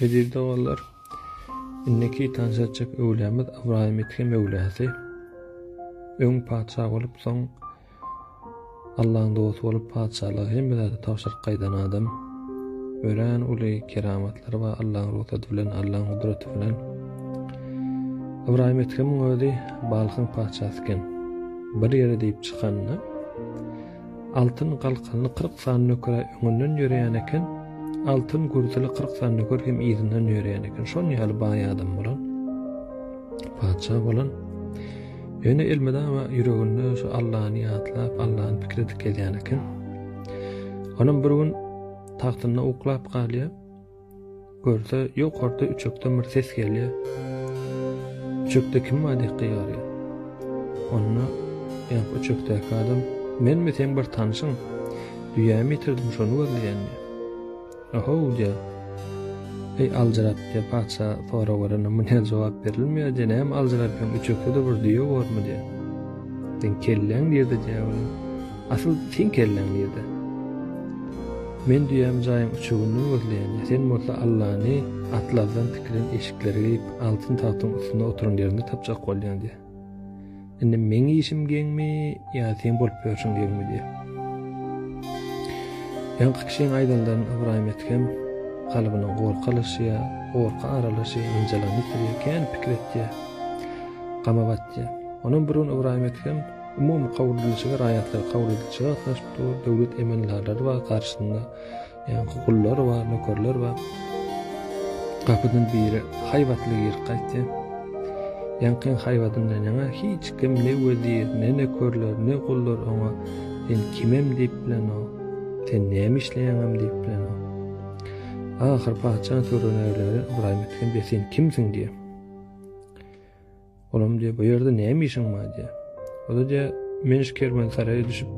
Eziz doganlar, indiki tans etjek öwlemiz Ybraýym Itge Möwlasi. Öň patyşa bolup, soň Allaň dosty bolup patyşalygy hemme zady tabşyryp gaýdan adam. Örän uly keramatlary bar Allaň rugsady bilen, Allaň gudraty bilen. Ybraýym Itgemiň özi Balhyň patyşasy eken. Bir ýere diýip çykanda Altyn galkanly kyrk sany nöker-ä öňünden ýöreýän eken, altyn gürtüli kyrk sany nöker hem yzyndan ýöreýän eken. Şonuň ýaly baý adam bolan, patyşa bolan. Ýöne elmydama ýüreginde şu Allany ýatlap, Allany pikir edip gezýän eken. Onam bir gün tagtynda uklap galýar. Görse, ýokarda üçekden bir ses gelýär. Üçekde kim bar diýip gygarýar. Onda ýa-da üçekdäki adam, menmi seň bir tanşyň? Düýämi ýitirdim, şony gözleýän diýär. Ohow diýär. Eý aljyrap diýär, patyşa sorag berende munça jogap berilmeýär diýär, näme aljyrapýaň, üçekde-de bir düýe bormy diýär. Seň kelläň nirde diýär onuň. Asyl seň kelläň nirde? Men düýäm jaýyň üçeginden gözleýän, sen bolsa Allany atlazdan tikilen eşikleri geýip, altyn tagtyň üstünde oturan ýerinde tapjak bolýaň diýýär. Indi meň işim geňmi ýa seň bolup ýörşüň geňmi diýýär. Ýaňky kişiň aýdanlaryny Ybraýym etgem kalbyna gorky alaşýar, gorky aralaşýar, ynjalygyny ýitirýär, kän pikir etýär, gama batýar. Onam bir gün Ybraýym etgem. umumy kabul edilişige raýatlar kabul edilişige gatnaşyp dur, döwlet emeldarlary bar, garşysynda ýaňky gullar bar, nökerler bar. Gapydan biri haýbatly girip gaýtdy. Ýaňkyň haýbatyndan ýaňa hiç kim ne wezir, ne nökerler, ne gullar oňa sen kimem diýip bilenok, sen näme işleýäňem diýip bilenok. Ahyr patyşanyň töweregine Ybraýym Etgen, sen kimsiň diýýär. Olam diýýär, Bu ýerde näme işiň bar diýýär. Ol-a diýýär, Men şu kerwensaraýa düşüp,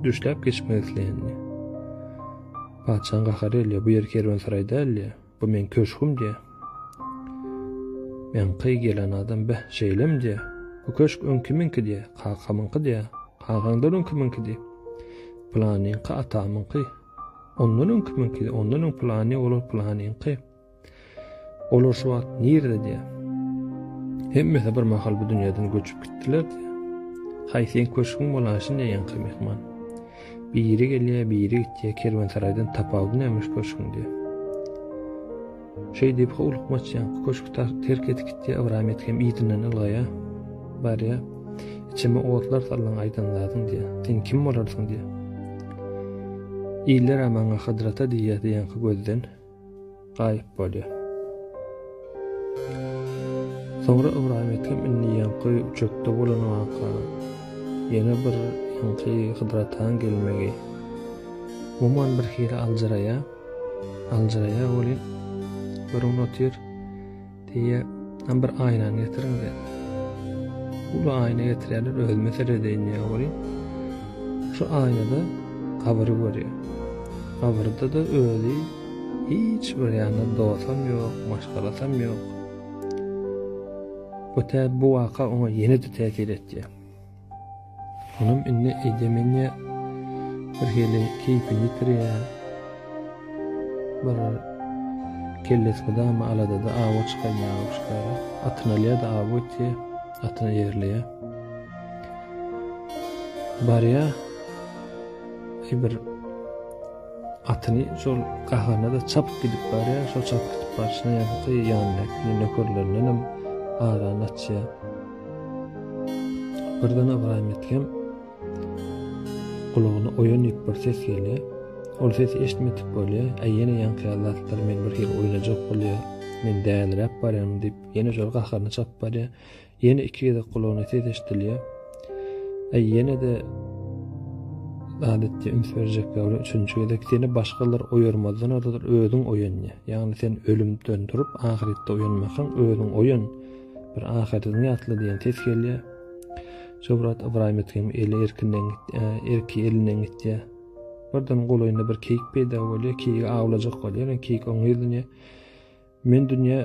düşläp geçmek isleýän diýýär. Patyşaň gahary gelýär, Bu ýer kerwensaraý däl diýýär. Bu meň köşgüm diýýär. Ýaňky gelen adam, Beh, şeýlemi diýýär. Bu köşk öň kimiňki diýýär. Kakamyňky diýýär. Kakaňdan öň kimiňki diýýär. Pylanyňky atamyňky. Ondan öň kimiňki, ondan öň pylany, olar pylanyňky. Olar şu wagt nirede diýär. Hemmesi bir mahal bu dünýäden göçüp gitdiler diýär. Haý seň köşgüň bolan şinde ýaňky mehman. Biri gelýär, biri gitýär, kerwensaraýdan tapawudy nämiş köşgüň diýär. Şeý diýip howlukmaç ýaňky köşki terk edip gitýär, Ybram et hem yzyndan ylgaýar. Barýar. Içime otlar saldyň aýdan zadyň diýär. Sen kim bolarsyň diýär. Iller maňa Hydrata diýýär diýýän gözden. Gaýyp bolýar. Soňra Ybraýym Ekem indi ýaňky üçekde bolan waka, ýene bir ýaňky Hydrataň gelmegi. Umuman birhili aljyraýar. Aljyraýar welin, görüp otyr. Diýe, hem bir aýnany getiriň diýe. Uly aýna getirýärler, özüme seredeýin diýe ogry. Şu aýnada gabyry görýär. Gabyrda da özi hiç bir ýanda dostam ýok, maşgalasam ýok. Bu tä bu waka oňa ýene-de täsir etýär. Onam indi eýdemenýä bir hili keýpini ýitirýä. Bir kellesi gydamy aladada awa çykan ýaly uşkara. Atyny alýa-da awa gitýä, atyny ýerleýä. Barýa bir atyny şol gahana da çapyp gidip barýa şol çapyp gidip barşyna ýa-da ýanyndaky nökerlerinden hem aran açýa Birden Ybraýym Edhem gulagyna oýan ýüp bir ses gelýär. Ol sesi eşitmedik bolýar. Äý, ýene ýaňky zatlar meni bir hili oýnajak bolýar. Men däliräp barýarmyň diýip, ýene şol gaharyna çapyp barýar. Ýene iki gezek gulagyna ses eşidilýär. Äý, ýene-de adatça üns berjek ýaly üçünji gezek seni başgalar oýarmazdan ozal özüň oýan diýýär. Ýagny sen ölümden turup, ahyretde oýanmasaň, özüň oýan. Bir ahyryň ýatla diýen ses gelýär. Şobrat Ybraýym etgem eli erkinden gitdi, erki elinden gitdi. Birden golaýynda bir keýik peýda bolýar, keýik awlajak bolýar, keýik oňa ýüzlenýär. Men dünýä,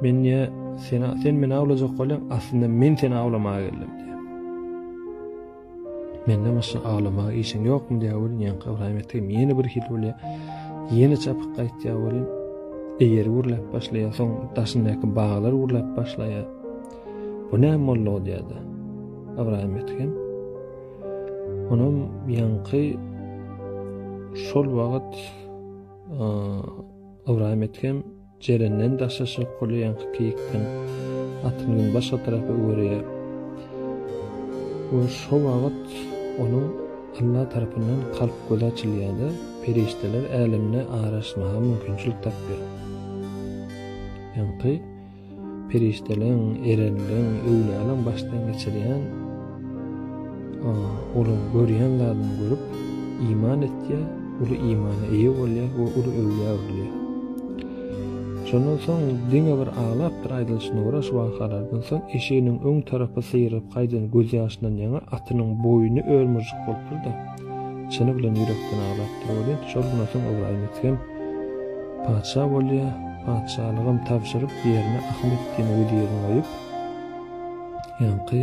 men niýe sen, sen meni awlajak bolýaň, aslynda men seni awlamaga geldim. Menden başga aglamaga işiň ýokmy diýýär welin, ýaňky Ybraýym Ethem ýene bir hili bolýar. Ýene çapyp gaýtýar welin, eýeri gürläp başlaýar, soň daşyndaky baglar gürläp başlaýar. Bu näme boldy diýýär-de. Ybraýym Ethem. Onam ýaňky şol wagt Ybraýym Ethem Jerenden daşlaşyk gurlaýanky keýikden atyň ýüňi başga tarapa öwürýär we şo wagt onuň Alla tarapyndan kalp gözi açylýar-da, perişdeler älemine araşmaga mümkinçilik tapýar. Ýaňky perişdeleň, erelleň, öwlýalaň başdan geçirýän Olar görýän zadyny görüp, iman etýär, uly imana eýe bolýar we uly öwgä öwrülýär. Şondan soň diňe bir aglapdyr aýdylyşyna görä şu wakalardan soň eşiginiň öň tarapy syýrylyp gaýdan gözýaşyndan ýaňa atynyň boýny örmüjik bolupdyr-da, çyny bilen ýürekden aglapdyr. Ol ýet şol günden soň Ybraýymet hem patyşa bolýar, patyşalygam tabşyryp ýerine Ahmet diýen wezirni goýup, ýaňky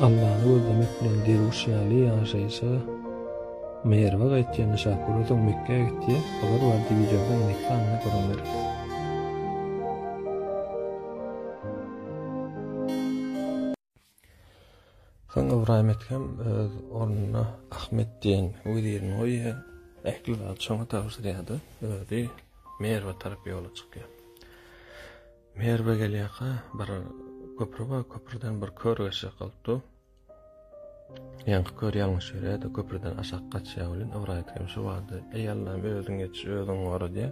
Allany gözlemek bilen derwüş ýaly ýaşaýşa Merwe gaýtýan Şah Gürozam Mekgä gitýär. Habar bardy wideoda indiki sanyny görüňler. Soň Ybraýym Ethem öz ornuna Ahmet diýen wezirini goýýar. Ähli zat şoňa tabşyrýar-da, özi Merwe tarap ýola çykýar. Merwe gelýärka bir köpri bar, köprüden bir kör geçjek bolup dur. Ýaňky kör ýalňyş ýörýärdi, köprüden aşak gaçýar welin, owraýt hem şu wagtda, eý Allam özüň geç, özüň gora diýär.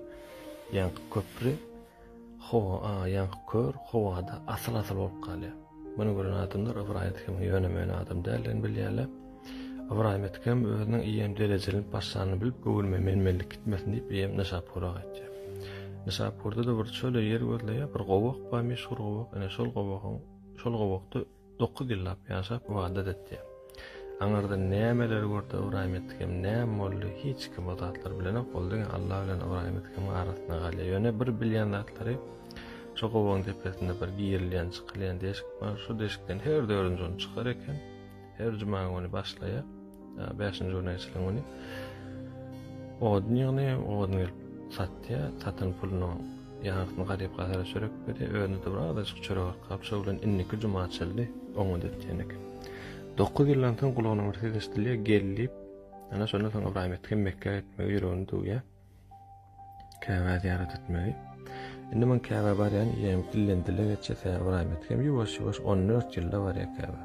Ýaňky köpri howa, a, ýaňky kör howada asyl-asyl bolup galýar. Muny gören adamlar Ybraýat hem ýöne-möne adam däldigini bilýärler. Ybraýym Etkem özüniň eýýäm derejelenip başlanyny bilip, göwnüme menmenlik gitmesin diýip, eýýäm Nyşapura gaýtýar. Nyşapurda-da bir çöle ýer gözleýär, bir gowak bar, meşhur gowak, ine, şol gowagyň, şol gowakda dokuz ýyllap ýaşap, ybadat etýär. Aňyrdan nämeleri gördi Ybraýym Etkem, näme boldy, hiç kim o zatlary bilenok, ol diňe Alla bilen Ybraýym Etkemiň arasynda galýar. Ýöne bir bilýän zatlary, şo gowagyň depesinde bir girilýän, çykylýan deşik bar, şo deşikden her dördünji gün çykar eken. Her juma güni başlaýar. Bäşinji güni eşlen güni. Odun ýygny, odun gelip satýa, satan puluny ýaňysyny garyp gazara çörek berdi. Özüne de bir azajyk çörek arkap, şo bilen indiki juma açyldy. Oňa dötýän eken. Dokuz ýyldan soň gulagyna bir ses eşidilýär, gel diýip. Ana şondan soň Ibrahim etken Mekkä gitmegi ýüregini döwýär. Käbä zyýarat etmegi. Indi men Käbä barýan diýýän ilden dile geçýär sebäbi Ybraýym Ethem ýuwaş ýuwaş on dört ýylda barýar Käbä.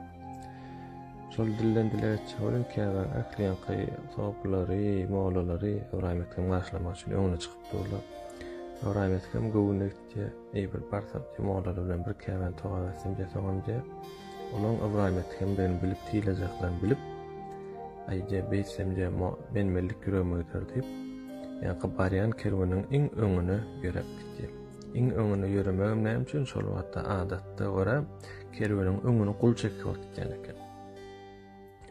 Şol dilden dile geçýär welin Käbä ähli ýaňky sopylary, mollalary Ybraýym Ethem garşylamak üçin öňüne çykyp durlar. Ybraýym Ethem göwni Diýe, eý, bir barsam, diýe, mollary bilen bir käbäni togap etsem diýe, soňam, diýe, olaryň Ybraýym etdigendigini bilip, hilejaklaryn bilip, aý, diýe, beýtsem, diýe, menmenlik ýüregime gider diýip, ýaňky barýan kerweniň iň öňüne ýöräp gitdi. Iň öňüne ýöremegem näme üçin, şol wagtda adatda görä, kerweniň öňüni gul çekip alyp gidýän eken.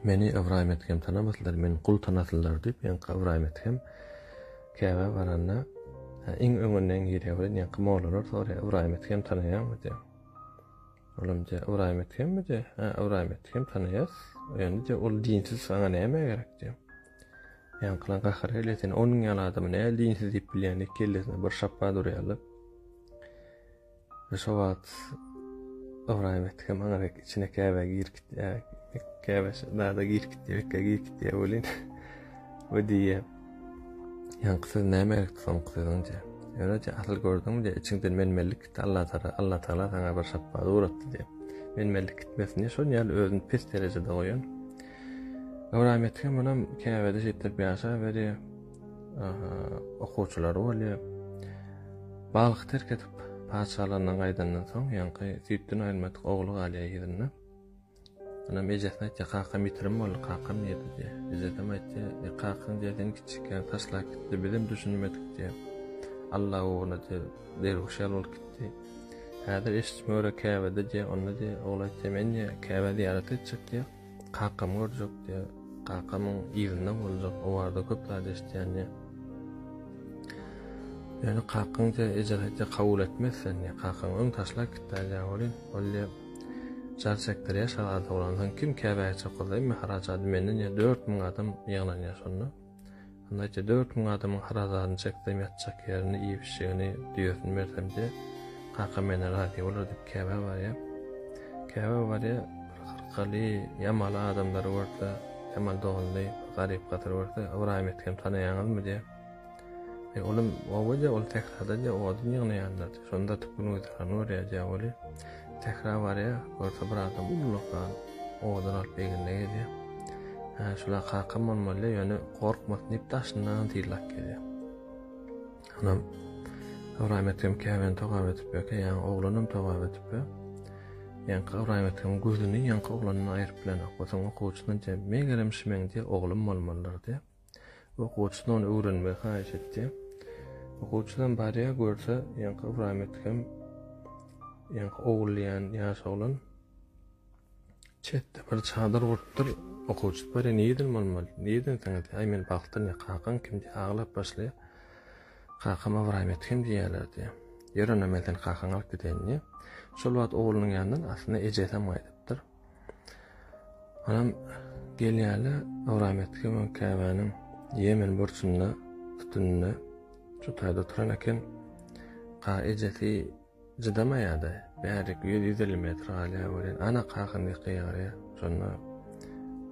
Meni Ybraýym etgem tanamasynlar, meni gul tanasynlar diýip, ýaňky Ybraýym etgem, Käbä baranda, iň öňünden girýär we ýaňky mollalar soraýar, Ybraýym Ethem tanaýaňmy diýip. Olam diýýär, Ybraýym Ethemmi diýip, hä, Ybraýym Ethem tanaýas. Ýöne diýýär, ol dinsiz saňa näme gerek diýýär. Ýaňkylaň gahary gelýär, sen onuň ýaly adamy näl dinsiz diýip bilýäň diýip kellesine bir şapba durýarlar. Şo wagt Ybraýym etdi hem aňa dek içine käbä girip gitýär. Käbä dada girip gitýär, ekkä girip gitýär welin. We diýýär. Ýaňky söz nämelik soňky sözüňje. Ýöne asyl gördüňmi diýýär, içiňden menmenlik gitdi, Alla tara, Alla tagala saňa bir şapbat ugratdy diýýär. Menmenlik gitmesin diýip, şol ýaly özüni pes derejede goýan. Ybraýym etdi hem munam käbäde şeýtlip ýaşaýberýär. okuwçylary bolýar. Balhy terk edip, patyşalygyna gaýdandan soň, ýaňky süýtden aýrylmadyk ogly galýar ýerinde. Anam ejesine aýtýar, kakam ýitirim boldy, kakam nirde diýýär. Ejesem aýtýar, e, kakaň diýýär, seni kiçikiňden taşlap gitdi, bizem düşünmedik diýýär. Alla ugruna diýýär, derwüş ýaly bolup gitdi. Häzir eşitjime görä Käbede diýýär, onda diýýär, ogly aýtýar, men diýýär, Käbä zyýarat etjek diýýär. Kakam görjek diýe. Kakamyň yzyndan boljak. O barada köp zat eşitýän diýe. Ýöne kakaň diýe eje aýtýa kabul etmez sen diýe. Kakaň öň taşlap gitdi diýe welin. Ol diýe jar çekdirýä şazada bolansoň kim käbäge çokuldym mähraç ady menden ýa 4000 adam ýygnanýa şonda. Annaýça dört müň adamyň harazadyny çeksem ýatjak ýerini, iýip-içjegini, düýesini bersemde, kakam menden razy bolar diýip käbä barýa. Käbä barýa, bir Hyrkaly, Ýamaly adamlary görse, Ýamal doganly, bir garyp-gatyr görse, Ybraýym ýetgeni tanaýaňyzmy diýä. Eý, olam oba diýä, ol sährada diýä, odun ýygnaýandyr diýä, şonda atyp gün-güzerany görýär diýä weli. Sähra barýa, görse bir adam ullakan odun alyp egnine gelýä. Hä, şula kakam bolmaly, ýöne gorkmasyn diýip daşyndan syýlap gelýä. Onam Ybraýym ekem käbäni togap edip ýöke, ýaňy oglanam togap edip ýö. Ýaňky Ybraýym ekem gözüni ýaňky oglandan aýryp bilenok. Otuň okuwçysyna diýýä, megerem şimeň diýýä, oglum bolmalydyr diýýä. Okuwçydan ony öwrenmegi haýyş etdi. Okuwçydan barýa görse, ýaňky Ybraýym Edhem, ýaňky Ogul diýen ýaş oglan çetde bir çadyr gurupdyr. Okuwçy barýa nireden bolmaly? Nireden seňedi? Aý men bagtdan ýa kakaň kim diýip aglap başlaýar. Kakam Ybraýym Edhem diýýärler diýýär. Ýör onda men seni kakaňa alyp gideýin diýýär. Şol wagt oglunyň ýanyndan aslynda ejesi hem gaýdypdyr. Anam gelýärle, Ybram etge we käbäniň ýemen burçunda, sütüninde şu taýda oturan eken. Ka ejesi jydamaýada, bärik ýüz-ýüz elli metr galýar welin, ana kakam diýip gygarýar. Şonda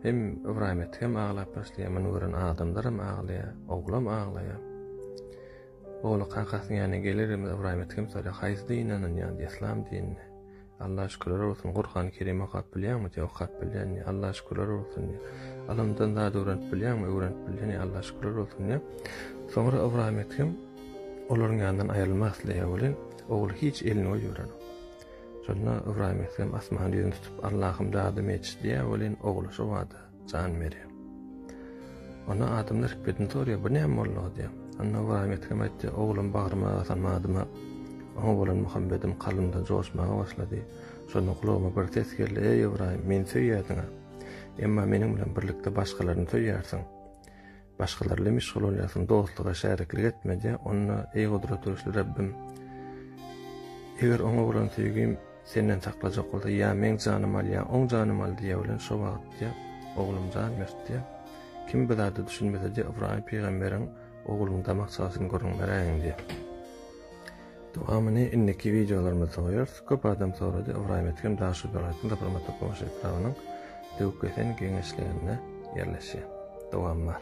hem Ybram etgem aglap başlaýar, muny gören adamlaram aglaýar, oglam aglaýar. Ogly kakasynyň ýanyna gelerimiz Ybram etgem soraýar, haýsy dine ynanýaň, yslam dinine. Allaha şükürler bolsun Gurhany Kerimi okap bilýäňmi diýýär okap bilýän diýýär Allaha şükürler bolsun diýýär Ylymdan zat öwrenip bilýäňmi öwrenip bilýän diýýär Allaha şükürler bolsun diýýär Soňra Ybraýym Ethem olaryň ýanyndan aýrylmak isleýär welin ogly hiç elini goýberenok Şonda Ybraýym Ethem asmana ýüzüni tutup Allahym dadym eç diýýär welin ogly şobada Jan berýär. Onda adamlar hikmetini sorýar, bu näme boldugy diýýär. Onda Ybraýym ýetgem aýtýar, oglum bagryma basan badyma, oňa bolan muhabbetim kalbymda joşmaga başlady. Şonda gulagyma bir ses geldi, eý Ybraýym, meni söýýärsiň-a. Emma meniň bilen birlikde başgalaryny söýýärsiň. Başgalar ile meşgul bolýarsyň, dostluga şäriklik etmedä, onda, eý gudrat göwüsli Rabbim, eger oňa bolan söýgim Senden saklajak bolsa, ýa meň janym al, ýa oň janym al diýe bilen, şo wagt diýe, oglum jan bert diýe. Kim bu zada düşünmese diýe, Ybraýym pygamberiň, Ogluň damak çagysyny görüň, beräýiň diýe. Dowamyny indiki wideolarymyzda goýarys. Köp adam sorady, Ybraýym Etkem Daşoguz welaýatynyň Tapyrmat Tokabaş etrabynyň Döwkesen geňeşliginde ýerleşýär. Dowam bar.